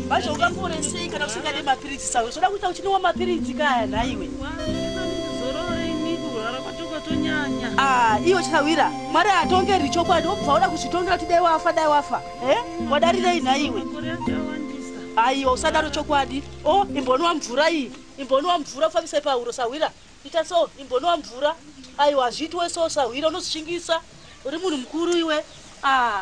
Bacho ungamboresei kana kusvika nemapiritsi sawe zvoda kuita uchinwa mapiritsi kaya nhaiwe ah, iyo chawira mwari atongeri chokwadi obva uda kuzvitongera kuti dai wafa dai wafa eh? wadarirei nhaiwe aiwa usadaro chokwadi o oh, imboniwa mvura iyi imboniwa mvura kufambisa pahuro sahwira ita so imboniwa mvura aiwa hazviitiwe so sahwira unozvishingisa uri munhu mukuru iwe ah.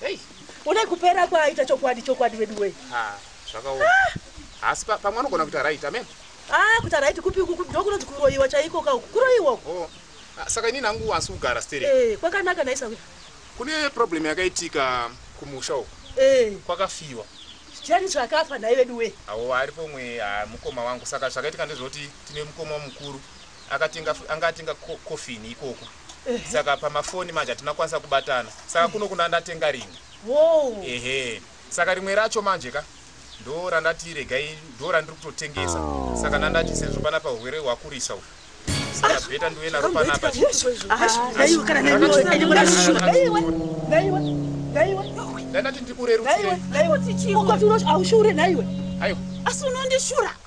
Hey. Une kupera kwaaita chokwadi chokwadi vedu wei. Ah, zvakaoma. Ah. Asi pa, pamwe anogona kuita right, amen. Ah, kuita right kupi uku ndokunoti kuroiwa chaiko ka uku. Kuroiwa uku. Oh. Ah, saka ini nangu wasi kugara stere. Eh, kwakanaka naisa kuya. Kune problem yakaitika kumusha uku. Eh. Kwakafiwa. Chani zvakafa naye vedu wei. Awo aripo mwe ah, mukoma wangu saka zvakaitika ndezvoti tine mukoma mukuru akatenga anga atenga coffin ikoko. saka pamafoni manje hatina kukwanisa kubatana saka kuno kuna ndatenga rimwe ehe saka rimwe racho manje ka ndo randati regai ndo randiri kutotengesa saka nandati sezvo pana pahurwere hwakurisa uku saka bheta ndiuye naro panapa ndandati ndikurerutsirei asi unondishura